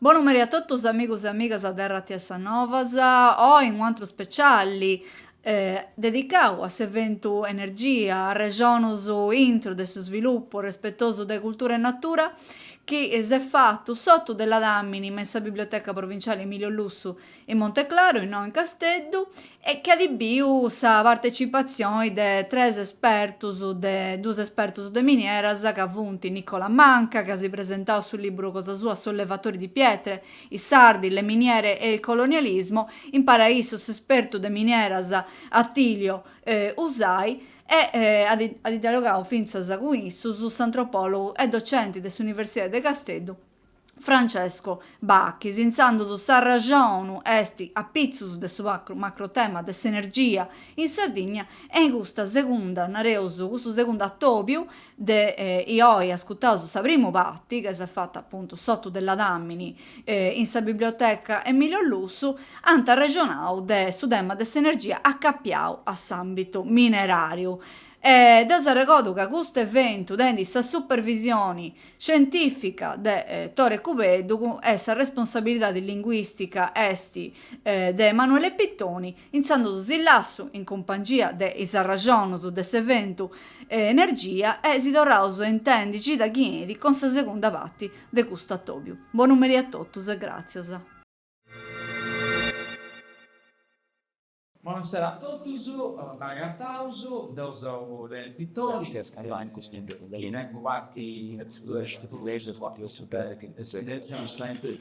Bonu meri a totus amigus e amigas de RTS Novas, oi in un'antru speciali dedicau a s'eventu Energia, arrexonus intru de su svilupu respetosu de cultura e natura chi s'est fatu s'otu de ladàmini me sa Biblioteca Provinciali Emilio Lussu in Monteclaru, innoi in Casteddu, e chi at biu sa partecipatzioni de tres espertus de duus espertus de minieras ca funt Nicola Manca, ca si at presentau su liburu cosa sua Sollevatori di pietre, I sardi, le miniere e il colonialismo, impari a issu s'espertu de minieras Attilio Usai e at dialogau fintzas cun issus s'antropòlogu e docenti de s'Universidadi de Casteddu Francesco Bachis, intzandus s'arraxonu est apitzus de su macrotema de s'energia in Sardigna e in custa segunda, nareus, custu segundu atòbiu, de chi oi ascutaus sa primu parti, ca s'est fata apuntu s'otu de ladàmini in sa biblioteca Emilio Lussu, ant arrexonau de su tema de s'energia acapiau a s'àmbitu mineràriu. Deu s'arregodu ca custu eventu tenit sa supervisioni scientìfica de Tore Cubeddu e sa responsabilidadi linguìstica est de Emanuele Pittoni, Intzandus si lassu, in cumpangia de is arraxonus de s'eventu Energia, e si torraus a intendi cida chi enit cun sa segunda parti de custu atobiu. Bonu meri a totus e gràtzias. Bonasera a totus, ben'agataus, deu seu de Pittoni, chi tengu parti de su Collegiu Sportivo Super Dilettanti Studenti Juventus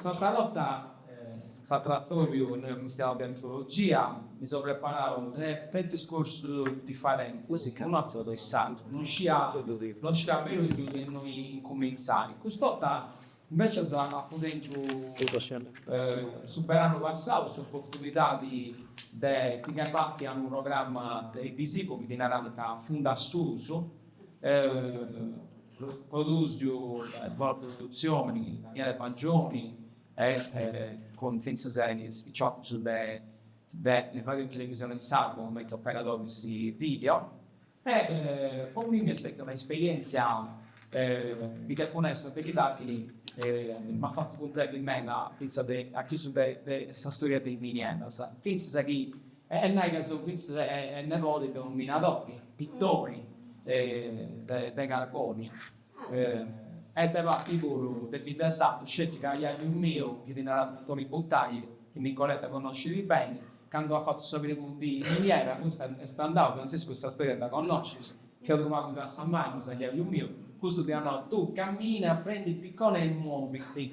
S'atra borta sa tratoriu no est custiau de antologia, mi so preparau tres discursus differentis, unu atrus de s'atru, no scià no scià però de innui incumintzai. Custa borta invecias apu tentu su beranu passau s'opportunidadi de pigai parti a unu programma televisivu chi ddi narant Fundu a susu, Produsiu de produtzioni in maniera magioni e cun fintzas a is piciocus de de fai televisioni in sardu cumenti operadoris video. E po mimmi est stètia un'esperièntzia chi depu nai sa beridadi m'at fatu cumprendi meda fintzas de a chissu de sa storia de is minieras fintzas chi E nai ca seu fitzu e nebodi de unu minadori, Pittoni de Carbonia e de parti puru de bidda sarda, sceti ca jaju miu, chi ddi narat Antoni Buttagli, chi Nicoletta connoscit beni, candu at fatu sa primu dì in miniera, custa est andau, Frantziscu sa storia dda connoscis, fiat unu pagu de assa manus a jaju miu, custu ddi at nau, tu camina, prendi piccone e muoviti.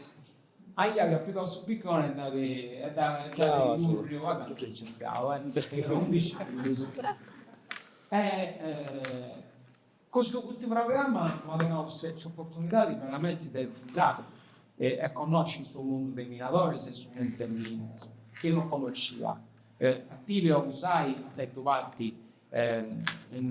Jaju at pigau su piccone e dd'at e dd'at curriu avatu licenziau e undixi fillus. E custu custu programma m'at donau s'opportunidadi veramenti de viaggiai e e connosci su mundu de is minadoris e su mundu de is minas chi no connoscia. Attilio Usai at tentu parti e in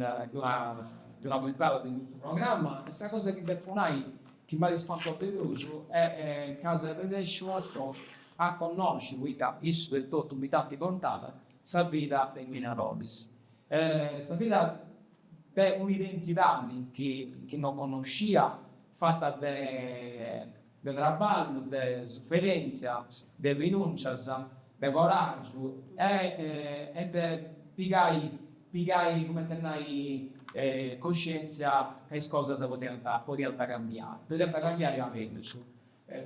d'una puntada de custu programma e sa cosa chi depo nai chi m'at ispantau de prus est ca seu arrennèsciu a a connosci poita issus etotu mi dd'ant contada sa vida de minadoris e sa vida de un'identidadi chi no connoscia fata de de traballu, de suferèntzia, de rinùncias, de coràgiu e de pigai, pigai cumenti a nai, coscièntzia ca is cosas podiant, podiant cambiai, podiant cambiai a mellus.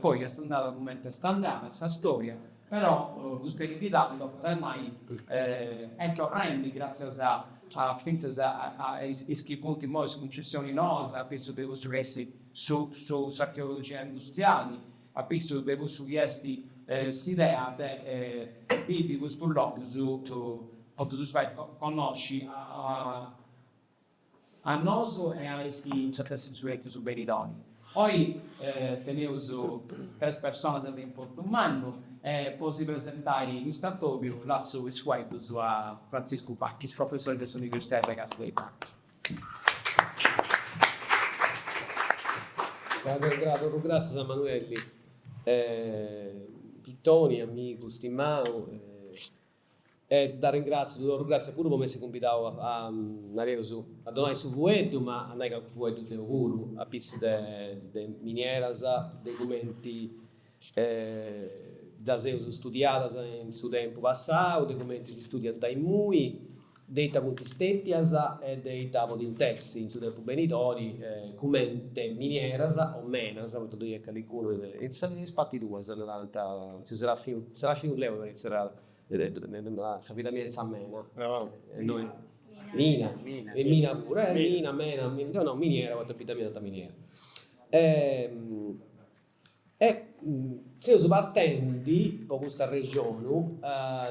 Poi est andada cumenti est andada sa storia, però custa eredidadi, tocat a nai, est torrendi gràtzias a, fintzas a is chi funt imoi is cuncessioni noas, a pitzus de cussu chi est Su s'archeologia industriali, a pitzus de cussu chi est s'idea de bivi custus logus po ddus fai connosci a nosu e a is chi nci ant a essi in su benidori. Oi teneus tres personas de importu mannu e po si presentai custu atobiu lassu is fueddus a Frantziscu Bachis, professori de s'universidadi de Casteddu. Torru gratzias a Manuelli Pittoni, amigu stimau, e dd'arringratziu, ddu torru gratzias puru po m'essi cumbidau a, nareus, a donai su fueddu, ma a nai calchi fueddu deu puru, apitzus de minieras, de cumenti Ddas eus studiadas in su tempu passau, de cumenti si studiant imui, de ita funt stètias e de ita podint essi in su tempu benidori, cumenti minieras o menas, poita ddoi est calicunu de is partis tuas, narant, tziu Serafiu, Serafiu Leu mi parrit si narat, narat sa vida mia in sa mena, mina, e mina puru, mina, mena, deu nau miniera poita in bidda mia est miniera. E seus partendi po custa arrexonu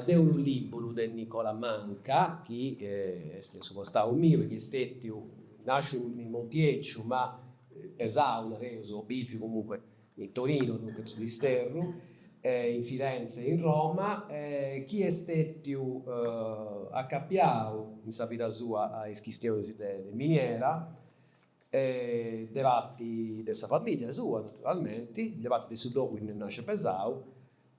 de unu lìburu de Nicola Manca, chi est in su costau miu e chi est stètiu, nàsciu in Montieciu ma pesau, nareus, o bìviu comunque in Torinu, duncas in su disterru, in Firenze e in Roma, chi est stètiu acapiau in sa vida sua a is chistionis de miniera E de parti de sa famìllia sua, naturalmenti, de parti de su logu innui est nàsciu e pesau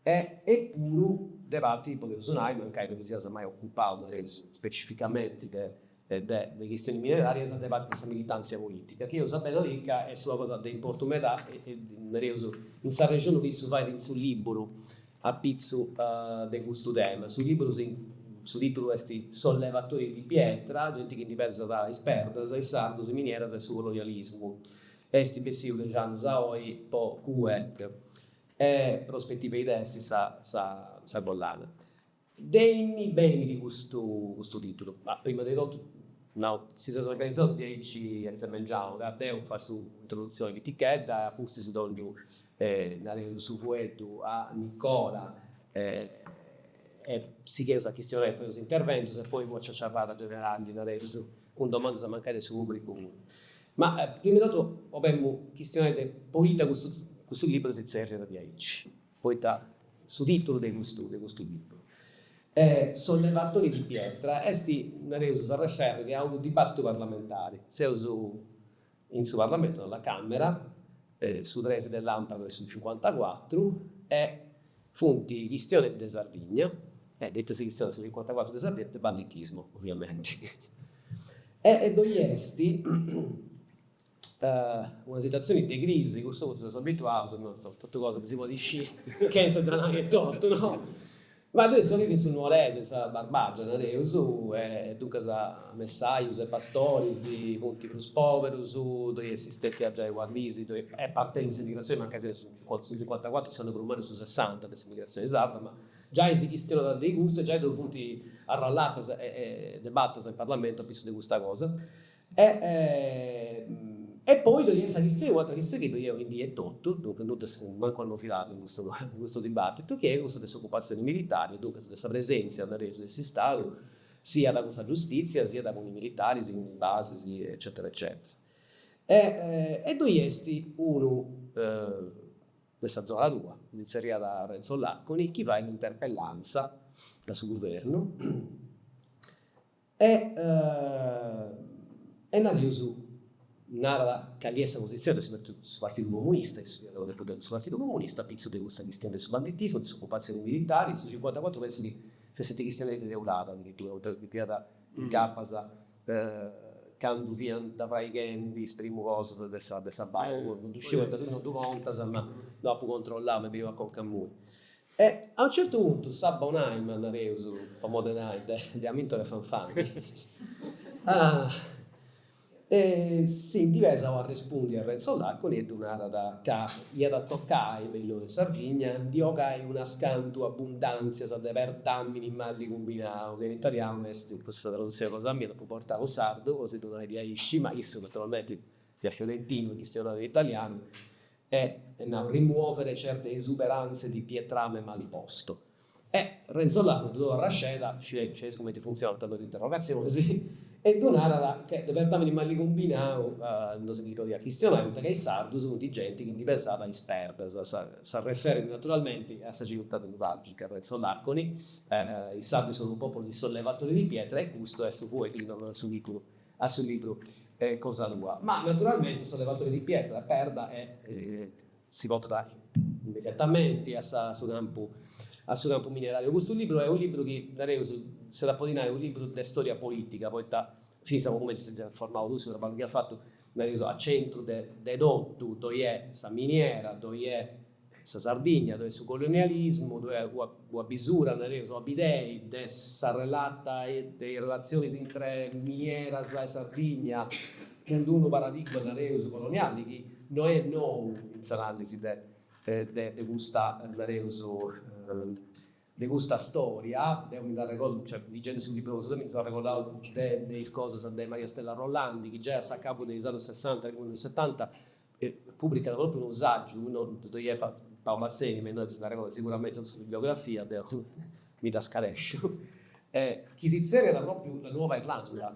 e puru de parti, podeus nai, mancai no ti sias mai ocupau, nareus, specificamenti de de de chistionis mineràrias, de parti de sa militàntzia polìtica, chi eus a biri ca est una cosa de importu meda, nareus, in s'arrexoni chi issu fait in su lìburu A pitzu de custu tema, su libru si, su titulu est Sollevatori di pietra, genti chi ndi pèsat is perdas, is sardus, is minieras e su colonialismu, est bessiu dexi annus a oi po CUEC e Prospettive Idee est sa collana. De innui benit custu custu titulu? Bah, prima de totu, no, si seus organizaus diaici a mengianu, ca deu fatzu introdutzioni pitichedda e apustis dongiu nareus su fueddu a Nicola e sigheus a chistionai e fai is interventus e poi una ciaciarrada generali, nareus, cun domandas mancai de su publicu puru. Ma prima de totu 'olemu chistionai de poita custu custu liburu si tzerriat diaici. poita su tìtulu de custu de custu libru, Sollevatori di pietra, est, nareus, s'arreferrit a unu dibàtitu parlamentari. Seus in su parlamentu, a la Càmera, su tres de làmpara de su cincuantacuatru e funt chistionendi de Sardigna, e de ita si chistionat su cincuantacuatru de Sardigna, de banditismo, oviamenti. E ddoi est Una situatzioni de crisi, custu funti seus abituaus, no, insoma, totu cosa chi si podit sciri chentza dda nai etotu, no. Ma deu issoro chi in su Nuoresu, in sa Barbagia, nareus, e duncas messajus e pastoris funti prus poberus, ddoi est stètia giai una crisi, ddoi est parti de s'emigrazioni, mancai seus in su su cincuantacuatru, s'annu prus mannu est su sessanta de s'emigrazioni sarda, ma giai si chistionat de custu e giai ddoi funti arrallatas e e debatas in parlamentu a pitzus de custa cosa. E poi ddoi est sa chistioni, un'atra chistioni chi ddoi est oindì etotu, duncas non ddoi fut mancu una novidadi in custu in custu dibatitu, chi est cussa de s'ocupatzioni militari, duncas de sa presenzia, nareus, de s'Istadu, siat cun sa giustitzia, siat cun is militaris, cun is basis, eccetera eccetera. E ddoi est unu de sa zona tua, chi si zerriat Renzo Laconi, chi fait un'interpellanza a su guvernu E e nareus narat cali est sa positzioni de su su partidu comunista, issu fiat unu deputau de su partidu comunista, apitzus de custa chistioni de su banditismu, de s'ocupatzioni militari, su cincuantacuatru pentzu chi fessit chistioni de Teulada adiritura, poita ddi fiat incapas candu fiant fraighendi is primus cosas de sa de sa basi, ddu sciu poita tui non ddu contas ma dd'apu controllau m'est beniu a conca a mui. E a unu certu puntu sa bonànima, nareus, po modi de nai, de Amintore Fanfani, si ndi pesat a arrespundi a Renzo Laconi e ddu narat ca iat a tocai, me in logu de Sardigna, ndi ogai unas cantu abundàntzias de perdàmini mali cumbinau, ca in italianu est, custa tradutzioni cosa mia, dd'apu portau in sardu po si ddu nai diaici, ma issu naturalmenti fiat fiorentinu e chistionàt in italianu, e at nau rimuovere certe esuberanze di pietrame mal posto. E Renzo Làconi ddu torrat sceda, scieis scieis cumenti funtzionant is interrogatzionis, e ddu narat chi de perdàmini mali cumbinau no si ndi podiat chistionai poita ca is sardus funt genti chi ndi pesat is perdas, si referit naturalmenti a sa civiltà nuràgica, Renzo Làconi, is sardus sunt unu pòpulu di sollevatori di pietra e custu est unu pagu chi ddi torrat su tìtulu. A su libru cosa tua. Ma naturalmenti sollevatori di pietra, perda e. Si portat immediatamenti a sa su campu a su campu minerariu. Custu libru è unu libru chi nareus s'at a podi nai unu libru de storia politica poita fintzas po cumenti ses formau tui, su traballu chi as fatu nareus a centru de de totu ddoi est sa miniera, ddoi est. sa Sardigna, ddoi est su colonialismu, ddoi est una bisura, nareus, una bidea de sa relata, de is relatzionis intre minieras e Sardigna, cun d'unu paradigma, nareus, coloniali chi no est nou in s'analisi de de de custa, nareus, de custa storia. Deu mi nd'arregordu, cioè, ligendi su libru cosa tua mi seu arregordau de de is cosas de Maria Stella Rollandi chi giai a s'acabu de is annus sessanta, millinoixentusetanta, pùbricat pròpriu unu sàgiu, immoi Paolo Mazzeni, ma innoi s'arregordat siguramente in sa bibliografia, deu mi dda scaresciu, chi si tzerriat pròpriu La Nuova Irlanda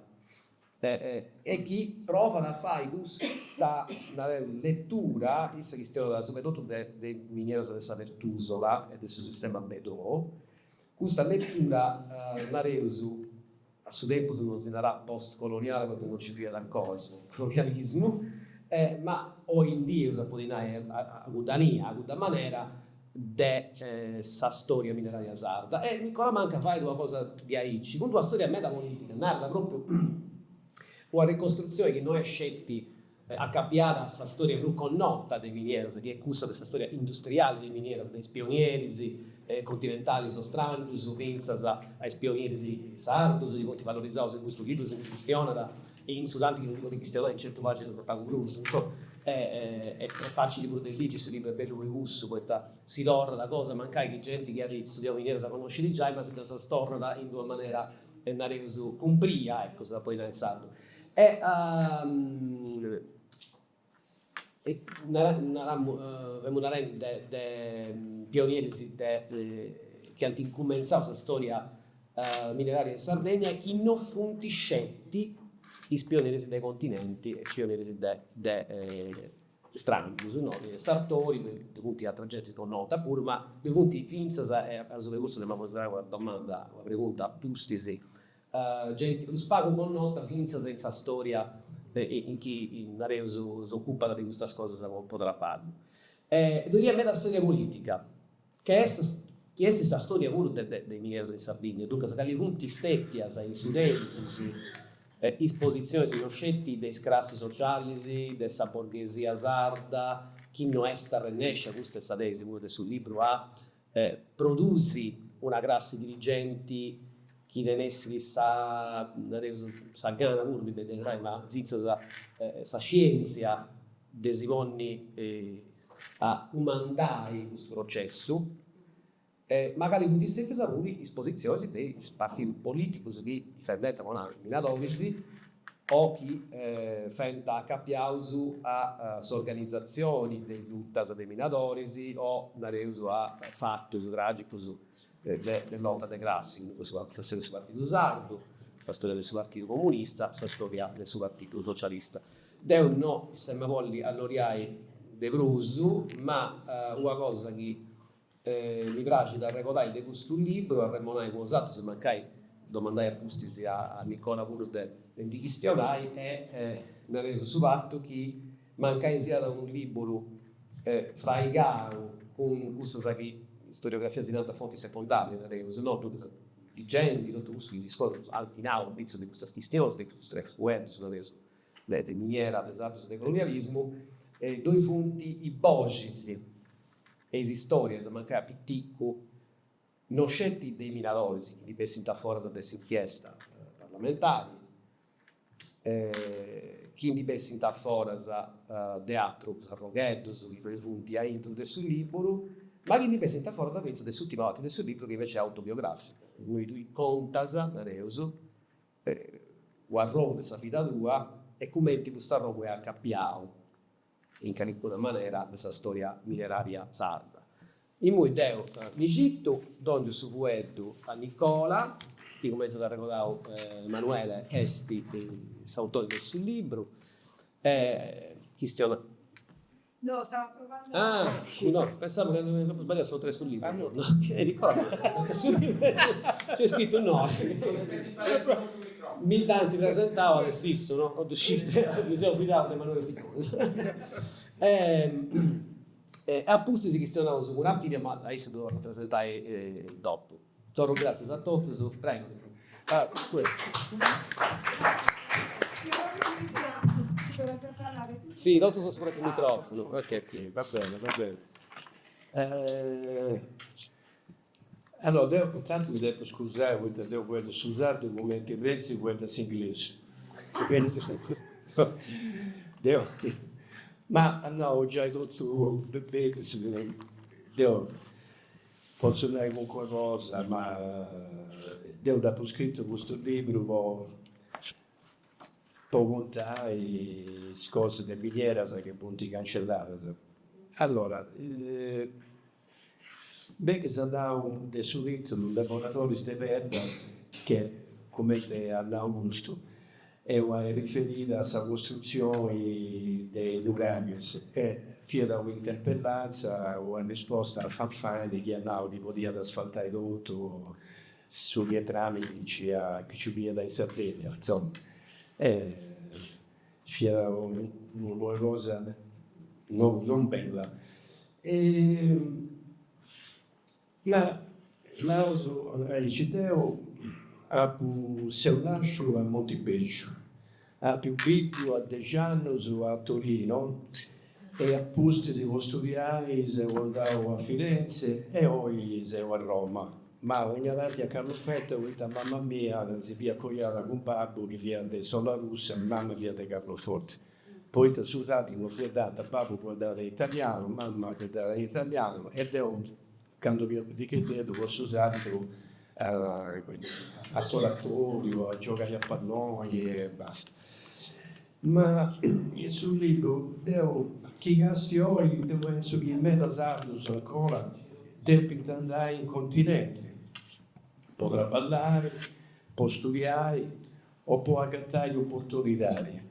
e chi provat a fai custa, nareus, letura, issa chi fiat subra e totu de de is minieras de sa Pertusola e de su sistema Bedò, custa letura, nareus A su tempus non si narat post-coloniale poita non nci fiat ancora su colonialismu, ma oindii eus a podi nai a cudda mania, a cudda manera de sa storia mineraria sarda. E Nicola Manca fait una cosa diaici, cun d'una storia meda politica, narat propriu una ricostrutzioni chi no est sceti Acapiat a sa stòria prus connota de minieras, chi est cussa de sa stòria industriale de minieras, de is pionieris continentalis o stràngius fintzas a is pionieris sardos, chi funt valorizados in custu libru, si ndi chistionat e in su tanti chi si ndi podit chistionai in centu pàginas e pagu prus. Est fàcili prus de ligi, su libru est bellu pro cussu, poita si torrat a cosas mancai chi genti chi at studiau minieras connoscit giai, ma si ddas torrat in d'una manera, nareus, cumpria, ecco, si dda potzu nai in sardu. E naramus, femus narendi de de pionieris de chi ant incumentzau sa storia mineraria de Sardegna chi no funt sceti is pionieris de continenti e is pionieris de de strangius, no, sartori ddu funt ateras gentis connota puru, ma ddu funt fintzas, e apitzus de cussu nd'emu a fai una domanda, una pregunta a pustis Genti prus pagu connota fintzas in sa storia de chi, nareus, s'ocupat de custas cosas po traballu. E ddoi at meda storia polìtica, chi est chi est sa storia puru de de is minieras in Sardigna. Duncas, cali funt stètias in su tempus is positzionis no sceti de is crassis socialis de sa borghesia sarda chi no est arrennèscia, custa est sa tesi puru de su libru, a a produsi una crassi dirigenti chi tenessit sa, nareus, sa gana puru, mi benit a nai, ma fintzas sa scientzia de si ponni a cumandai custu processu, e mancari funt stetias puru is positzionis de is partius politicus chi difendiant po nai minadoris o chi fent acapiaus a s'organizatzioni de is lutas de is minadoris o, nareus, a fatus tràgicus de de lota de classi, cun cussu sa storia de su partidu sardu, sa storia de su partidu comunista, sa storia de su partidu socialista. Deu no m'em'a bolli allonghiai de prus, ma una cosa chi E mi praxit a arregodai de custu libru, a remonai cun bosatrus e mancai domandai a pustis a Nicola puru de ndi chistionai est nareus su fatu chi mancai siat unu liburu fraigau cun cussas chi in storiografia si narant fonti secondàrias, nareus, no, duncas ligendi, totu cussu chi si scrit, fut analizau apitzus de custas chistionis, de custus tres fueddus, nareus, de miniera, de is atrus de colonialismu, ddoi funt is boxis. Is istòrias, mancai a piticu, no sceti de i minadoris chi ndi bessint aforas de s'inchiesta parlamentari, chi ndi bessint aforas de atrus arrogheddus chi ddoi funt aintru de su lìburu, ma chi ndi bessint aforas fintzas de s'ùrtima parti de su lìburu chi inveci est autobiogràfica, innui tui contas, nareus, u' arrogu de sa vida tua e cumenti cust'arrogu est acapiau in calicuna manera de sa storia minerària sarda. Imui deu mi citu, dòngiu su fueddu a Nicola, chi cumenti at arregodau Emanuele est s'autore de su libru, de chi chistionaus. No, stau aprovau. Ah, no, pensamu ca m'apu sbagliau s'autore de su libru. Nicola, s'autore de su libru. Nc'est scritu innoi. Mi dd'ant presentau aici issu, no po ddu sciri, mi seu fidau de Emanuele Pitone. E e apustis chistionaus cun Attilio, ma a issu ddu torru a presentai dopu. Torru gràtzias a totus, prego. Si, totus dus cun su micròfonu. Ok, ok, va bene, va bene. Allora deu intantu mi depu scusai poita deu fueddu su sardu cumenti Renzi fueddat s'inglesu. Deu, at nau giai totu beni, deu potzu nai calincuna cosa, ma deu dd'apu scritu custu libru po po contai is cosas de minieras chi funt cancelladas. Allora Beni s'at nau de su tìtulu Devoradores de Perdas che, comente at nau custu, eu a riferire a sa costrutzioni de Lugàngias e fiat una interpellanza, una risposta a Fanfani chi at nau chi podiat asfaltai totu su pietrami chi nci fiat in Sardigna. Insoma. fiat una cosa non non bella e ma naus aici deu apu seu nàsciu a Montibèciu, apu biviu a dexi annus a Torino E a pustis po studiai seu andau a Firenze e oi seu a Roma. Ma onniatanti a Carloforte poita mama mia si fiat coiada cun babbu chi fiat de Solarussa e mama fiat de Carloforte. Poita su sardu no fueddànt, babbu fueddàt in italianu, mama fueddàt in italianu e deu candu fia picheddeddu po su sardu a s'oratoriu, a giogai a palloni e basta. Ma in su libru deu chi càstiu oi deu pensu chi meda sardus ancora depint andai in continenti po traballai, po studiai o po agatai opportunidadi.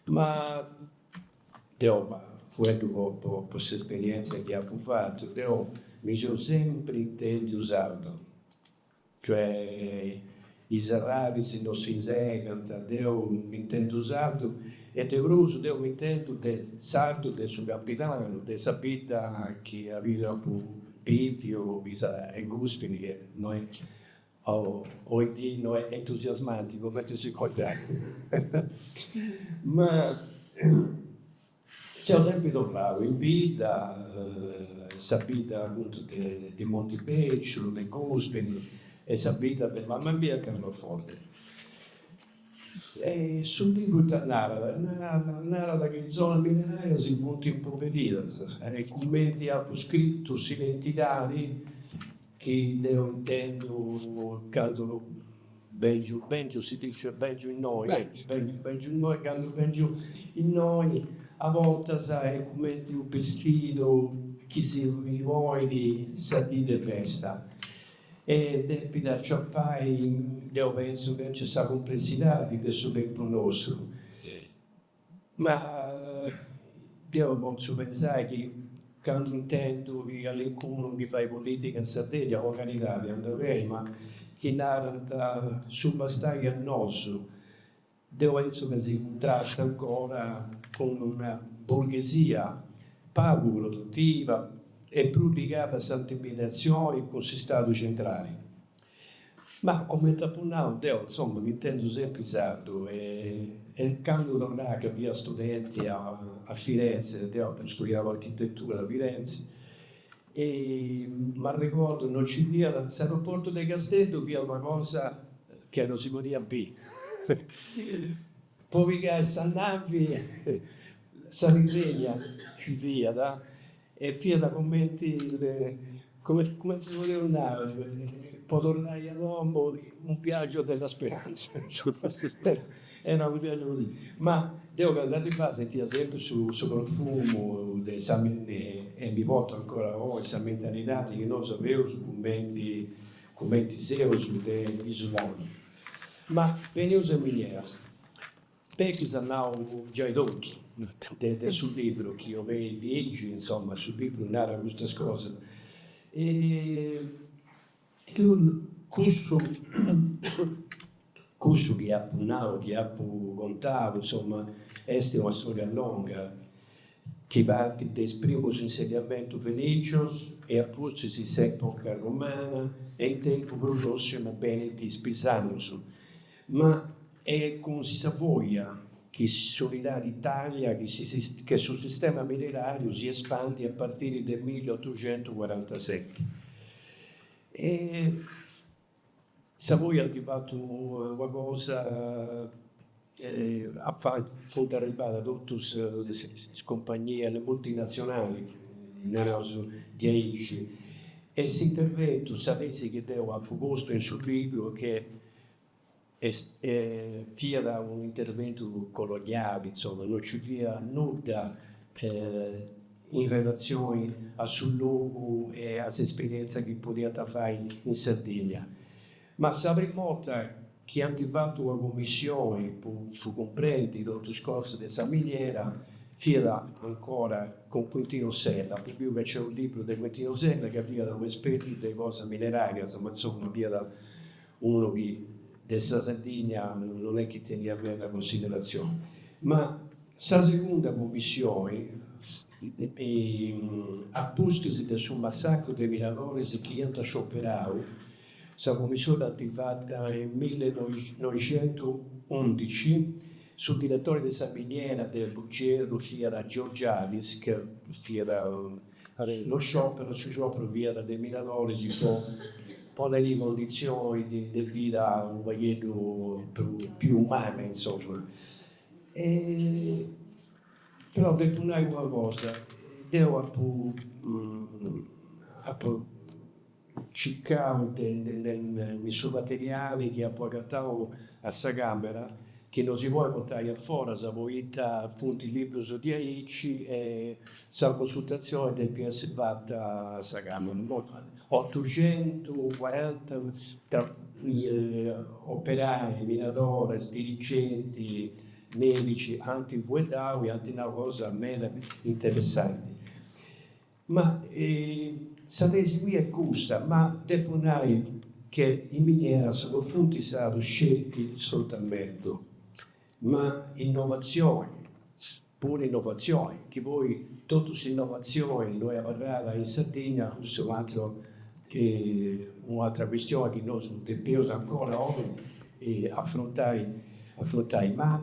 Ma deu fueddu po s'esperientzia chi apu fatu deu mi seu sempri intendiu sardu. Cioè, is arraixis no si segant, deu m'intendu sardu e de prus deu m'intendu de sardu de su Campidanu, de sa bidda chi aundi apu biviu chi est Guspini e no est oidì no est entusiasmanti cumenti si podit nai. Ma. Seu sempri torrau in bidda, in sa bidda appuntu de Montibeciu, de Guspini e sa bidda de mama mia a Carloforte. Su libru ita narat? Narat chi is zonas minerarias funt impoverìdas e cumenti apu scritu s'identidadi chi deu intendu candu Bèngiu, bèngiu, si dice bèngiu innoi. Bèngiu innoi, candu bèngiu innoi, a bortas est cumenti unu bistidu chi si ponit sa dì de festa e depit aciopai, deu pentzu chi nc'est sa cumplessidadi de su tempus nostru. Ma deu potzu pensai chi candu intendu chi calincunu chi fait politica in Sardigna po caridadi andat beni ma chi narant su bastai a nosu deu pentzu ca si cuntrasta ancora cun una borghesia pagu produtiva e prus ligada a s'intermediatzioni cun s'istadu centrali. Ma cumenti apu nau deu, insoma, m'intendu sempri sardu e e candu torrà ca fia studenti a a Firenze, deu apu studiau architetura a Firenze, m'arregordu no nci fiat, s'aeroportu de Casteddu fiat una cosa che non si podiat biri po pigai sa navi Sardegna nci fiat E fiat cumenti, cumenti si podeus nai, po torrai a domu, un viagiu de la speranza. Era unu viagiu così. Ma deu candu arribà sentia sempri su profumu de sa e mi portu ancora oi, sa mentalidadi chi nosu aveus cumenti, cumenti seus de isola. Ma beneus a miniera. Pegus at nau giai totu de su libru chi eus lìgiu, insoma, su libru narat custas cosas. Cussu chi apu nau, chi apu contau, insoma, est una storia longa chi partit de is primus insediamentus fenicius e apustis in s'epoca romana e in tempus prus prossimu benint is pisanus. Ma est cun Savoia chi s'unidadi de Italia che su sistema mineràriu si espandit a partiri de milliotuxentucuarantaseti. E Savoia ant fatu una cosa, funt arribadas totus is cumpagnias, le multinazionali, naraus diaici, e s'interventu, sa tesi chi deu apu postu in su libru, che Est fiat unu interventu coloniali, insoma, no nci fiat nudda in relatzioni a su logu e a s'esperientza chi podiant fai in Sardigna. Ma sa primu 'orta chi ant fatu una cummissioni po cumprendi totu is cosas de sa miniera fiat ancora cun Quintino Sella, apu biu ca nc'est u' libru de Quintino Sella ca fiat u' espertu de cosas minerarias, ma insoma fiat unu chi de sa Sardigna non est chi teniat meda consideratzioni, ma sa segunda cummissioni, a pustis de su massacru de minadoris chi iant scioperau, sa cummissioni dd'ant fata in millenoixentuundici, su diretori de sa miniera de Bugerru fiat Georgiadis, ca fiat Su sciòperu, su sciòperu fiat de minadoris po poniri cunditzionis de de vida unu pagheddu pius umana, insoma. Però depu nai una cosa, deu apu apu Circau in su materiali chi apu agatau a sa càmera, chi no si podit portai a foras poita funt librus diaici e sa consultatzioni depit essi fata a sa càmera. Otuxentucuaranta operai, minadoris, dirigenti, mèdici ant fueddau e ant nau cosas meda interessanti. Ma sa tesi mia est custa, ma depu nai che in minieras funt stados scelti soltantu ma innovazioni, puru innovazioni, chi poi totu s'innovazioni no est abarrada in Sardigna, custu est un'atru un'atra custioni chi nosu depeus ancora oi afrontai afrontai, ma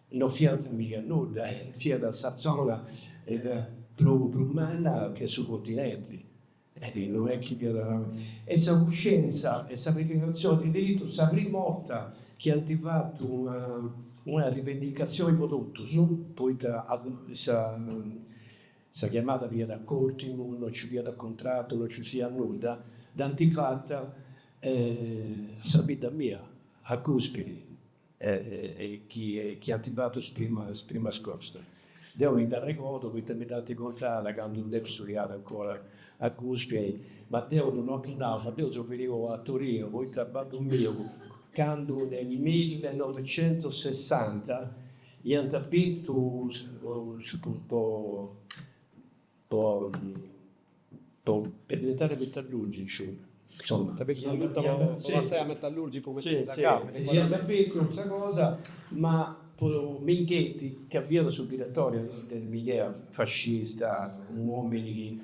No fiant mica nudda, fiat sa zona prus manna de su continenti, no est chi fiat abarrau. E sa cuscientza e sa rivendicatzioni de diritus, sa primu 'orta chi ant fatu una rivendicatzioni po totus, poita sa chiamada fiat a cotimu, no nci fiat contratu, no nci fiat nudda, dd'ant fata a sa bidda mia, a Gùspini, chi ant fatu is primas primas iscolas. Deu mi nd'arregordu poita mi dd'ant contada candu depia studiai ancora a Gùspini, ma deu non dd'apu nau, ma deu seu finiu a Torinu poita babbu miu candu nel millenovecentossessanta iant bintu po po po diventare metallurgicu insomma essere metallurgicu iant bintu custa cosa ma po Minghetti ca fiat su diretori de miniera fascista uomini chi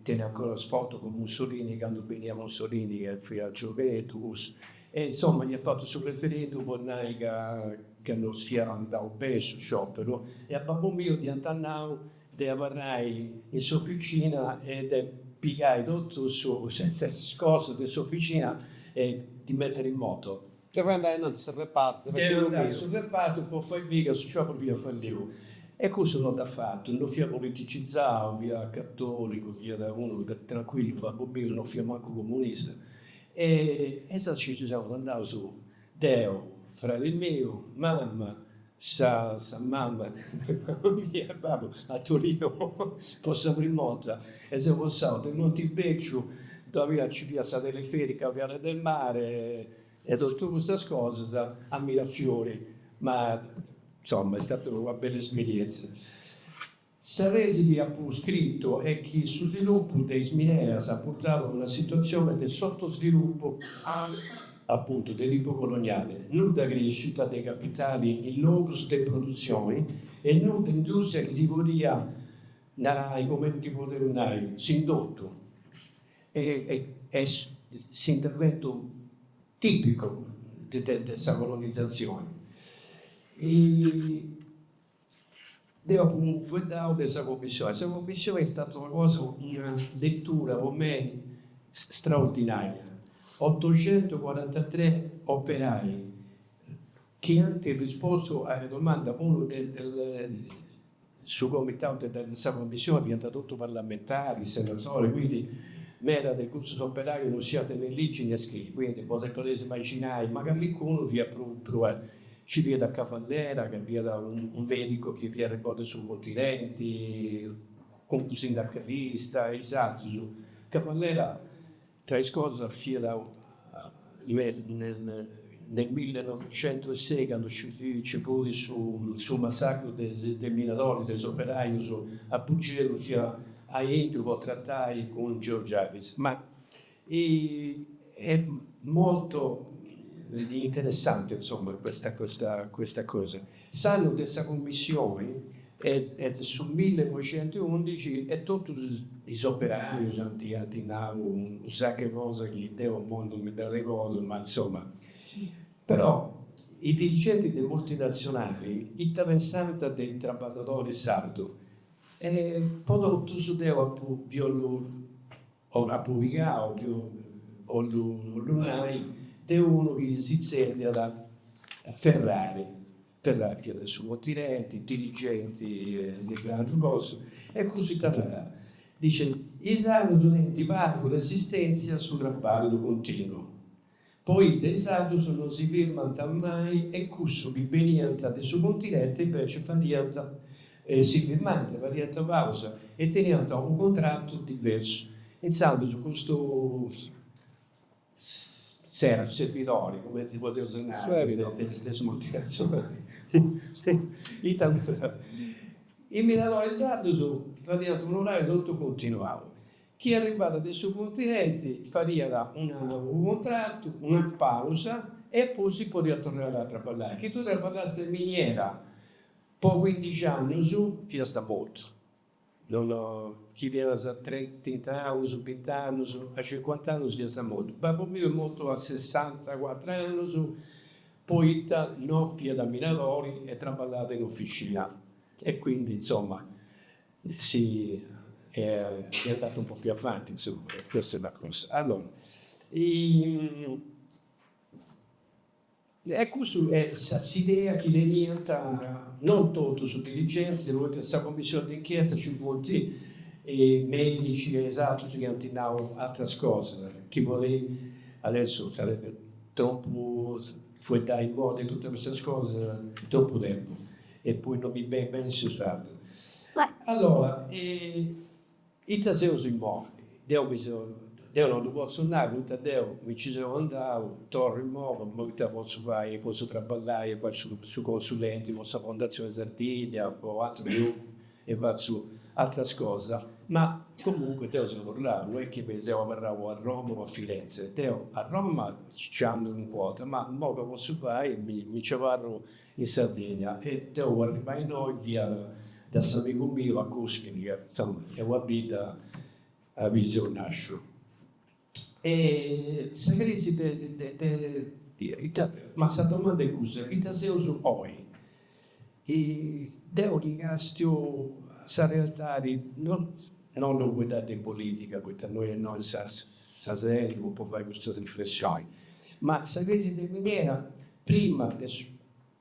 teni ancora is foto cun Mussolini candu beniat Mussolini ca fiat giovuneddu E insomma iat fatu su referendum po nai ca ca no fiat andau beni su scioperu e a babbu miu dd'iant nau de abarrai in s'oficina e de pigai totu su is cosas de s'oficina e ddi mettiri in moto. Deu andà innantis a su repartu a fai su numeru. Deu andà a su repartu po fai biri ca su scioperu fiat falliu. E cussu no dd'at fatu, no fiat politicizau, fiat catolicu, fiat unu tranquillu, babbu miu no fiat mancu comunista E insaras nci seus andaus deu, fradi miu, mama, sa mama de mama mia e babu a Torino po sa prim'orta e seus passaus de Montibéciu ddoi nci fiat sa teleferica Viale del Mare e totu custas cosas a Mirafiori ma insoma est stata una bella esperienza. Sa tesi chi apu scritu est chi su svilupu de is mineras at purtau a una situatzioni de sotosvilupu, apuntu, de tipu coloniali, nudda crescita de capitali in logus de produtzioni e nudda industria chi si podit narai, comenti podeus nai, s'indotu est s'interventu tipicu de sa colonizatzioni. Deu apu fueddau de sa commissioni. Sa commissioni est stata una cosa, una lettura po mei straordinaria. Ottocentucuarantatrè operai chi ant rispostu a domanda unu su comitau de sa commissioni, fiant totus parlamentaris, senatoris, quindi meda de cussus operaius non sciant ne ligi ne scriri, quindi podeis imaginai, ma calincunu fiat prus Nci fiat Cavallera ca fiat unu medicu chi fiat benniu de su continenti, cuncu sindacalista e is atrus. Cavallera, tra is cosas, fiat nel millenovicentusei candu nci fut su massacru de is minadoris de is operaius a Bugerru fiat aintru po tratai cun Georgiades. Ma Est molto interessante insomma questa questa cosa. S'annu de sa cummissioni est su millenoixentuundixi e totus is operaius ant ant nau unu sacu 'e cosa chi deu imoi non mi dd'arregodu, ma insomma. Però i dirigenti de multinazionali ita pensant de i trabballadori sardu e po totus deu apu bòlliu apu pigau apu bòlliu nai de unu chi si tzerriat Ferraris, Ferraris de su continenti, dirigenti de grandu cosas, e cussu ita narat, dicit, is sardos tenint pagu resistèntzia a su traballu continu, poita is sardos non si firmant mai e cussu chi beniant de su continente invece fadiant si firmànt, fadiant pausa e teniant unu contratu diversu. Insandus custu servidori, cumenti podeus nai, de sa multinazionali is minadoris sardos fadiant un'orariu totu continuau Chi arribada de su continenti fadiada una unu contratu, una pausa e poi si podiat torrai a traballai. Chi tui traballast in miniera po cuindixi annus fiasta mortu. Non chi fias trint'annus, bint'annus, a cincuant'annus fiasta mortu. Babbu miu est mortu a sessantacuatru annus poita non fiat minadori e traballàt in officina e quindi insomma sì è andato un po' più avanti, insomma, questa è la cosa. Allora, e custu est sa s'idea chi teniant, non totus is dirigentis, poita in sa commissioni de inchiesta nci funt medici e is atrus chi ant nau atras cosas, chi po nai, adesso sarebbe tropu fueddai immoi de totu custas cosas, tropu tempus E poi no mi benit beni su sardu. Allora, ita seus imoi? Deu mi seu, deu no ddu potzu nai poita deu mi nci seu andau, torru imoi, imoi ita potzu fai, potzu traballai e fai su consulenti po sa Fondatzioni Sardigna po atrus grupus e fatzu atras cosas. Ma comunque deu seu torrau, no est chi mi seu abarrau a Roma o a Firenze. Deu a Roma nci andu calincuna 'orta, ma imoi ca potzu fai, mi nci abarru in Sardigna e deu arribbai innoi fia da s'amigu miu a Guspini ca insoma est sa bidda aubi seu nasciu e sa crisi de de ita ma sa domanda est cussa ita seus oi e deu ddi castiu a sa realtadi non 'ollu fueddai de politica poita no est innoi sa sedi po fai custas riflessioni ma sa crisi de miniera Prima de su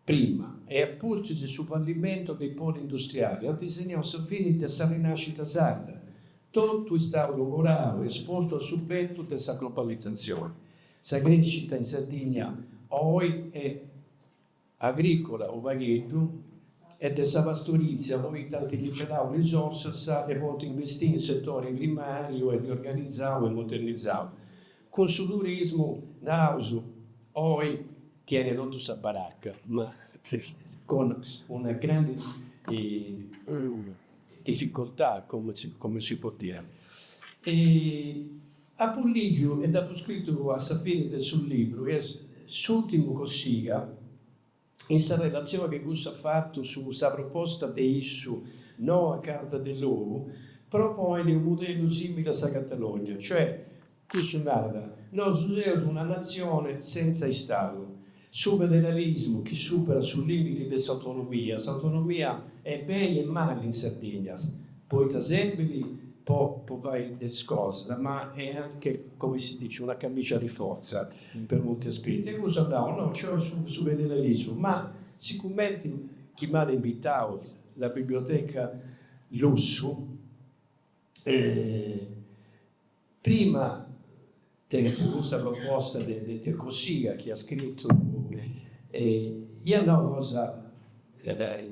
prima e a pustis su fallimentu dei poli industriali at segnau sa fini de sa rinascita sarda. Totu est istau logorau e espostu a su bentu de sa globalizatzioni. Sa crescita in Sardigna oi est agricola unu pagheddu e de sa pastorizia poita ant liberau risorsas de podi investiri in setori primariu e riorganizau e modernizau. Cun su turismu, naus, oi tiene totu sa baracca, ma con una grande difficoltà, come si può dire. E apu lìgiu e dd'apu scritu a sa fine de su libru, chi est s'ùrtimu Cossiga. in sa relatzione che cussu at fatu su sa proposta de issu Noa Carta de Logu, proponet unu mudellu simile a sa Catalogna, cioè, cussu narat, nosu seus una natzione senza Istadu, su federalismu chi superat su limiti de s'autonomia, s'autonomia est beni e mali in Sardigna, poita serbit po po fai de is cosas, ma est anche, come si dice, una camicia di forza. per molti aspetti. E cussu at nau, no, nci 'olit su federalismu. Ma sicomenti chi m'at invitau la biblioteca Lussu, prima de custa proposta de Cossiga chi at scritu, iat nau una cosa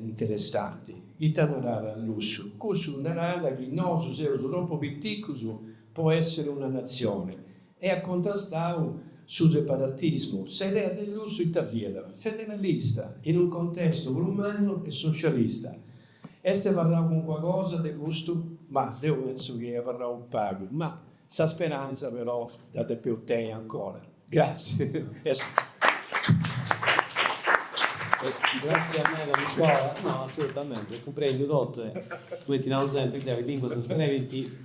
interessanti, ita narat Lussu, cussu narat chi nosu seus tropu piticus po essiri una natzioni, e at contrastau su separatismu, s'idea de lussu ita fiat? Federalista, in unu contestu prus mannu e socialista. Est abarrau calincuna cosa de custu? Mah, deu pentzu chi est abarrau pagu, ma sa speranza però dda depeu tenni ancora. Gratzias. Gratzias meda Nicola, no, assolutamente, cumprendiu totu e cumenti naus sempri deu is linguas serbint